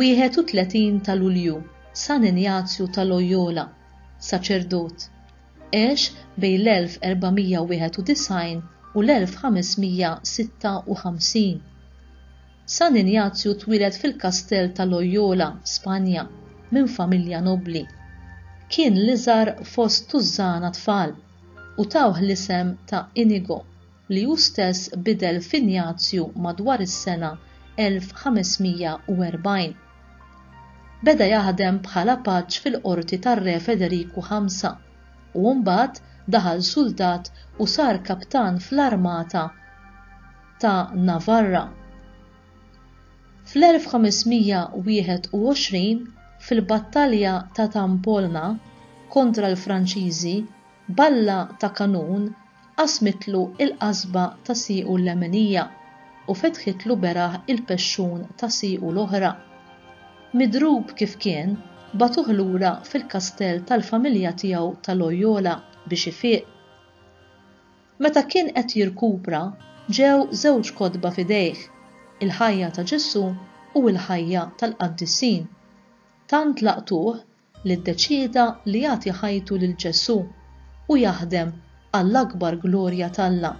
Wieħed u tletin ta' Lulju, San Injazju ta' Loyola, saċerdot, għex bejn l-1491 u l-1556. San Injazju twieled fil-Kastell ta' Loyola, Spanja, minn familja nobbli. Kien l-iżgħar fost tużżana tfal, u tawh l-isem ta' Inigo, li hu stess bidel f'Injazju madwar is-sena 1540. Beda jaħdem bħala paġġ fil-qorti tar-Re Federiku Ħamsa, u mbagħad daħal suldat u sar kaptan fl-armata ta' Navarra. Fl-1521, fil-battalja ta' Tampolna kontra l-Franċiżi, balla ta' kanun qasmitlu l-qasba ta' siequ l-leminija u fetħitlu beraħ il-pexxun ta' siequ l-oħra. Midrub kif kien, bagħtuh lura fil-kastell tal-familja tiegħu ta' Loyola biex ifiq. Meta kien qed jirkupra, ġew żewġ kotba f'idejh, il-ħajja ta' Ġesù u l-ħajja tal-qaddisin. Tant laqtuh li ddeċieda li jagħti ħajtu lil Ġesù u jaħdem għall-akbar glorja t'Alla.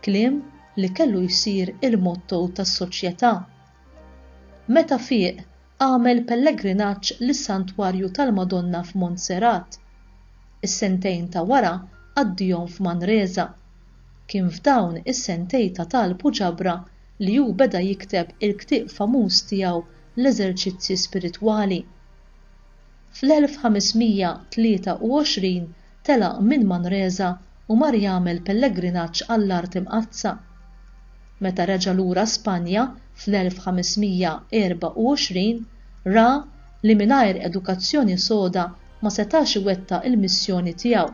Kliem li kellu jsir il-motto tas-soċjetà. Meta fieq, Għamel pellegrinaġġ lis-Santwarju tal-Madonna f'Montserrat. Is-sentejn ta' wara qaddihom f'Manresa. Kien f'dawn is-sentej ta' talb u ġabra li hu beda jikteb il-ktieb famuż tiegħu L-Eżerċizzji Spiritwali. Fl-1523 telaq minn Manresa u mar jagħmel pellegrinaġġ għall-Art Imqaddsa. Meta reġa' lura Spanja fl-1524, ra li mingħajr edukazzjoni soda ma setax iwettaq il-missjoni tiegħu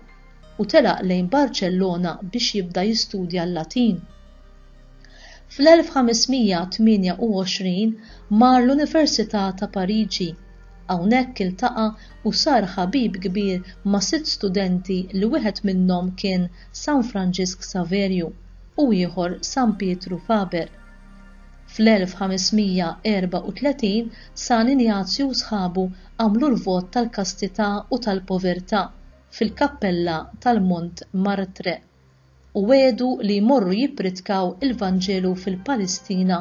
u telaq lejn Barċellona biex jibda jistudja l-Latin. Fl-1528 mar l-Università ta' Pariġi. Hawnhekk iltaqa' u sar ħabib kbir ma' sitt studenti li wieħed minnhom kien San Franġisk Saverju u ieħor San Pietru Faber. Fl-1534 San Injazju u sħabu għamlu l-vot tal-kastità u tal-povertà fil-kappella tal-Mont Martre. u wegħdu li jmorru jippritkaw il-Vanġelu fil-Palestina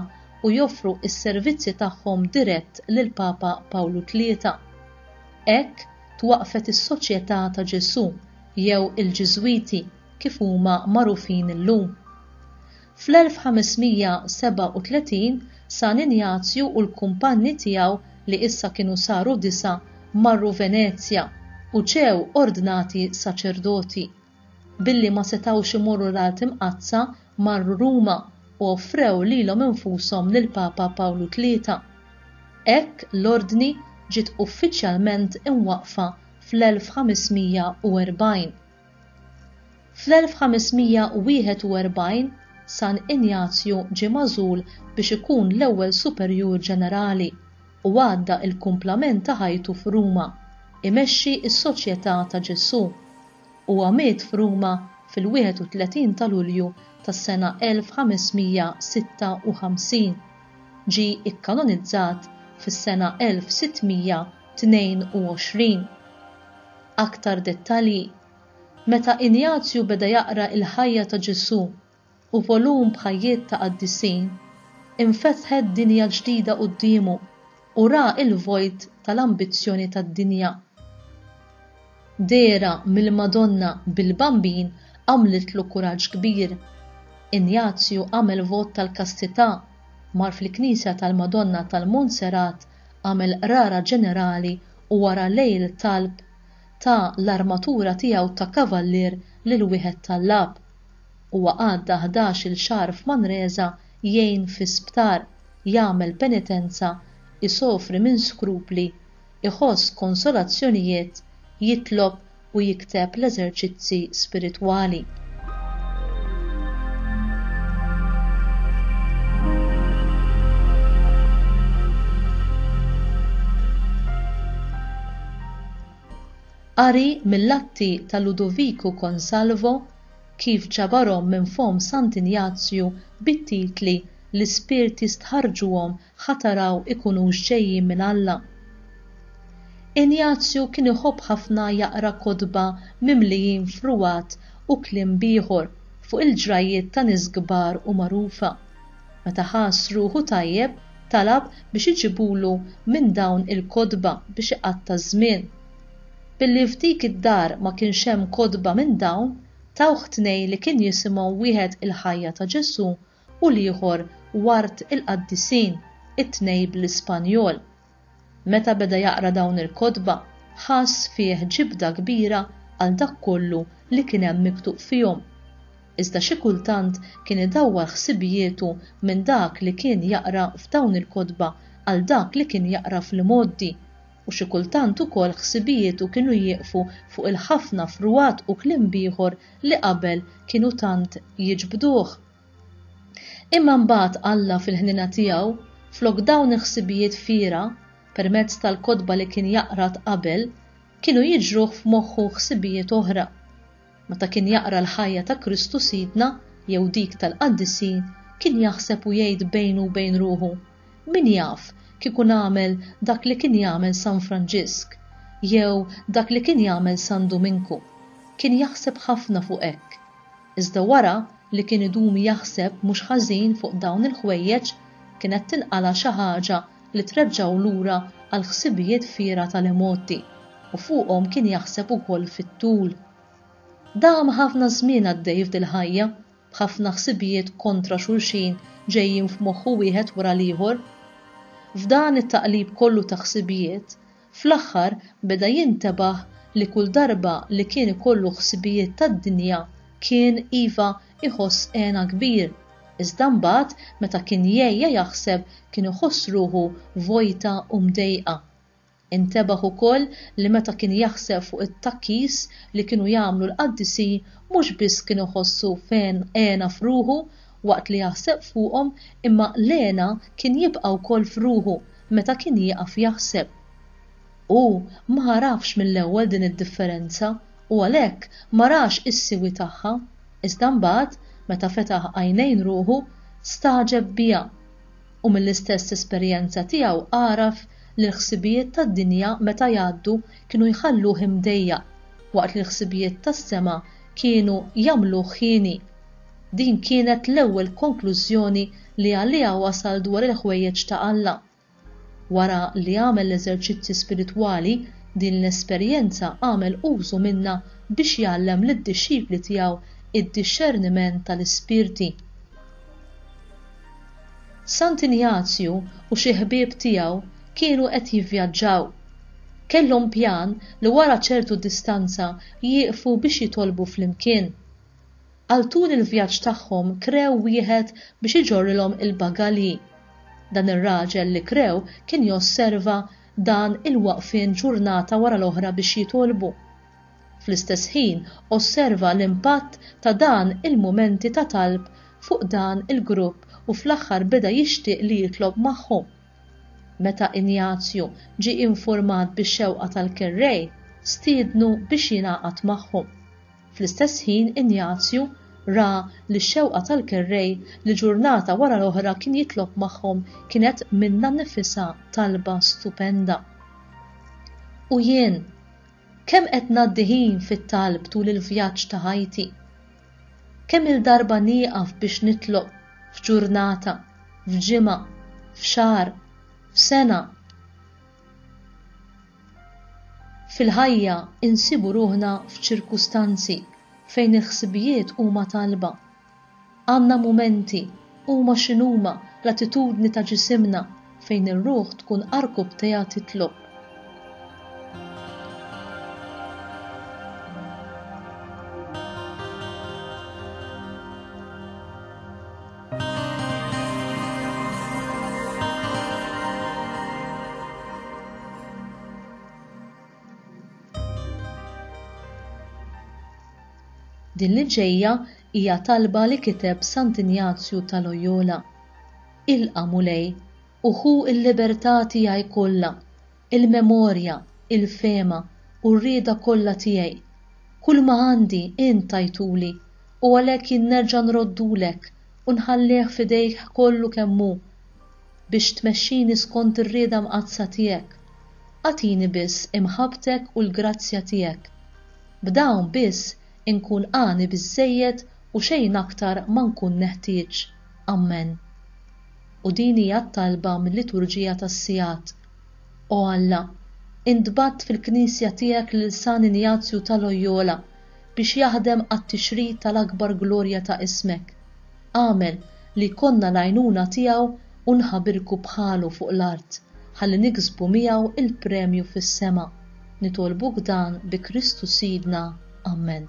u joffru s-servizzi tagħhom dirett lill-Papa Pawlu Tlieta. Hekk twaqqfet is-Soċjetà ta' Ġesù jew il-Ġiżwiti kif huma magħrufin illum. Fl-1537 San Injazju u l-kumpanji tiegħu li issa kienu saru disa' marru Venezja u ġew ordnati saċerdoti. Billi ma setgħux imorru l-Art Imqaddsa, marru Ruma u offrew lilhom infushom lill-Papa Pawlu Tlieta. Hekk l-Ordni ġiet uffiċjalment imwaqqfa fl-1540. Fl-1541 San Injazju ġie magħżul biex ikun l-ewwel Superjur Ġenerali u għadda l-kumplament ta' ħajtu f'Ruma, imexxi s-Soċjetà ta' Ġesù. Huwa miet f'Ruma fil-31 ta' Lulju tas-sena 1556. Ġie ikkanonizzat fis-sena 1622. Aktar dettalji Meta Injazju beda jaqra il-ħajja ta' Ġesù u volum b'ħajjiet ta' qaddisin, infetħet dinja ġdida quddiemu u ra l-vojt tal-ambizzjoni tad-dinja. Dehra mill-Madonna bil-Bambin għamlitlu kuraġġ kbir. Injazju għamel vot tal-kastità, mar fil-knisja tal-Madonna tal-Monserrat, għamel qrara ġenerali u wara lejl talb ta' l-armatura tiegħu ta' kavallier lil wieħed tal-Lab. Huwa għadda ħdax-il xahar f'Manresa jgħin fi sptar, jagħmel penitenza, isofri minn skrupli, iħoss konsolazzjonijiet, jitlob u jikteb l-eżerċizzi spiritwali. Qari mill-atti ta' Ludoviku Consalvo kif ġabarhom minn fomm Sant'Injazju bit-titli L-ispirti stħarrġuhom ħa taraw ikunux ġejjin minn Alla. Injazju kien iħobb ħafna jaqra kotba mimlijin fruwat u kliem b'ieħor fuq il-ġrajjiet ta' nies kbar u magħrufa. Meta ħass ruħu tajjeb talab biex iġibulu minn dawn il-kotba biex iqatta' ż-żmien. Billi f'dik id-dar ma kienx hemm kotba minn dawn, tawh tnej li kien jisimhom wieħed il-ħajja ta' Ġesù u l-ieħor Ward il-Qaddisin, it-tnej bl-Ispanjol. Meta beda jaqra dawn il-kotba, ħass fih ġibda kbira għal dak kollu li kien hemm miktub fihom. Iżda xi kultant kien idawwar ħsibijietu minn dak li kien jaqra f'dawn il-kotba għal dak li kien jaqra fl-imgħoddi. u xi kultant ukoll ħsibijietu kienu jieqfu fuq il-ħafna frugħat u kliem b'ieħor li qabel kienu tant jiġbduh. Imma mbagħad Alla fil-ħniena tiegħu, flok dawn il-ħsibijiet fiergħa, permezz tal-kotba li kien jaqra t'qabel, kienu jiġruh f'moħħu ħsibijiet oħra. Meta kien jaqra l-ħajja ta' Kristu Sidna jew dik tal-qaddisin, kien jaħseb u jgħid bejnu u bejn ruħu, Min jaf, kieku nagħmel dak li kien jagħmel San Franġisk, jew dak li kien jagħmel San Duminku. Kien jaħseb ħafna fuq hekk. Iżda wara li kien idum jaħseb mhux ħażin fuq dawn il-ħwejjeġ, kienet tinqala' xi ħaġa li treġġgħu lura għall-ħsibijiet fiergħa tal-emotti u fuqhom kien jaħseb ukoll fit-tul. Dam ħafna żmien għaddej f'dil-ħajja, b'ħafna ħsibijiet kontra xulxin ġejjin f'moħħu wieħed wara l-ieħor. F'dan it-taqlib kollu ta' ħsibijiet, Fl-aħħar beda jintebaħ li kull darba li kien ikollu ħsibijiet tad-dinja kien, iva, iħoss hena kbir, iżda mbagħad meta kien jgħejja jaħseb kien iħoss ruħu vojta u mdejqa. Intebaħ ukoll li meta kien jaħseb fuq it-tgħakkis li kienu jagħmlu l-qaddisin mhux biss kien iħossu hena f'ruħu waqt li jaħseb fuqhom imma Lena kien jibqa' wkoll f'ruħu meta kien jieqaf jaħseb. Hu ma għarafx mill-ewwel din id-differenza u għalhekk ma rax is-siwi tagħha iżda mbagħad meta fetaħ għajnejn ruħu stagħġeb biha u mill-istess esperjenza tiegħu għaraf li l-ħsibijiet tad-dinja meta jgħaddu kienu jħalluh imdejjaq waqt li l-ħsibijiet tas-sema kienu jagħmluh hieni. Din kienet l-ewwel konklużjoni li għaliha wasal dwar il-ħwejjeġ ta' Alla. Wara li għamel l-eżerċizzji spiritwali, din l-esperjenza għamel użu minnha biex jgħallem lid-dixxipli tiegħu d-dixxerniment tal-ispirti. Sant Injazju u xi ħbieb tiegħu kienu qed jivvjaġġaw. Kellhom pjan li wara ċertu distanza jieqfu biex jitolbu flimkien. Għal tul il-vjaġġ tagħhom krew wieħed biex iġorrilhom il-bagalji. Dan ir-raġel li krew kien josserva dan il-waqfien ġurnata wara l-oħra biex jitolbu. Fl-istess ħin osserva l-impatt ta' dan il-mumenti ta' talb fuq dan il-grupp u fl-aħħar beda jixtieq li jitlob magħhom. Meta Injazju ġie infurmat bix-xewqa tal-kerrej, stiednu biex jingħaqad magħhom. Fl-istess ħin Injazju ra li x-xewqa tal-kerrej li ġurnata wara l-oħra kien jitlob magħhom kienet minnha nnifisha talba stupenda. U jien, kemm qed ngħaddi ħin fit-talb tul il-vjaġġ ta' ħajti? Kemm-il darba nieqaf biex nitlob f'ġurnata, f'ġimgħa, f'xahar, f'sena? Fil-ħajja nsibu ruħna f'ċirkustanzi fejn il-ħsibijiet huma talba. Għandna mumenti, huma x'inhuma, l-attitudni ta' ġisimna, fejn ir-ruħ tkun arkubtejha titlob. Din li ġejja hija talba li kiteb Sant Injazju ta' Loyola. Ilqa' Mulej, u ħu l-libertà tiegħi kollha, Il-memorja, il-fehma u r-rieda kollha tiegħi. Kulma għandi, int tajtuli, u għalhekk jien nerġa' nroddulek u nħallih f'idejk kollu kemm hu, biex tmexxini skont ir-rieda mqaddsa tiegħek. Agħtini biss imħabbtek u l-grazzja tiegħek. B'dawn biss inkun għani biżżejjed u xejn aktar ma nkun neħtieġ. Ammen. U din hija t-talba mil-Liturġija tas-Sigħat. O Alla, intbagħat fil-Knisja tiegħek lil San Injazju ta' Loyola biex jaħdem għat-tixrid tal-akbar glorja ta' ismek. Agħmel li jkollna l-għajnuna tiegħu u nħabirku bħalu fuq l-art ħalli niksbu miegħu l-premju fis-sema. Nitolbuk dan bi Kristu Sidna. Ammen.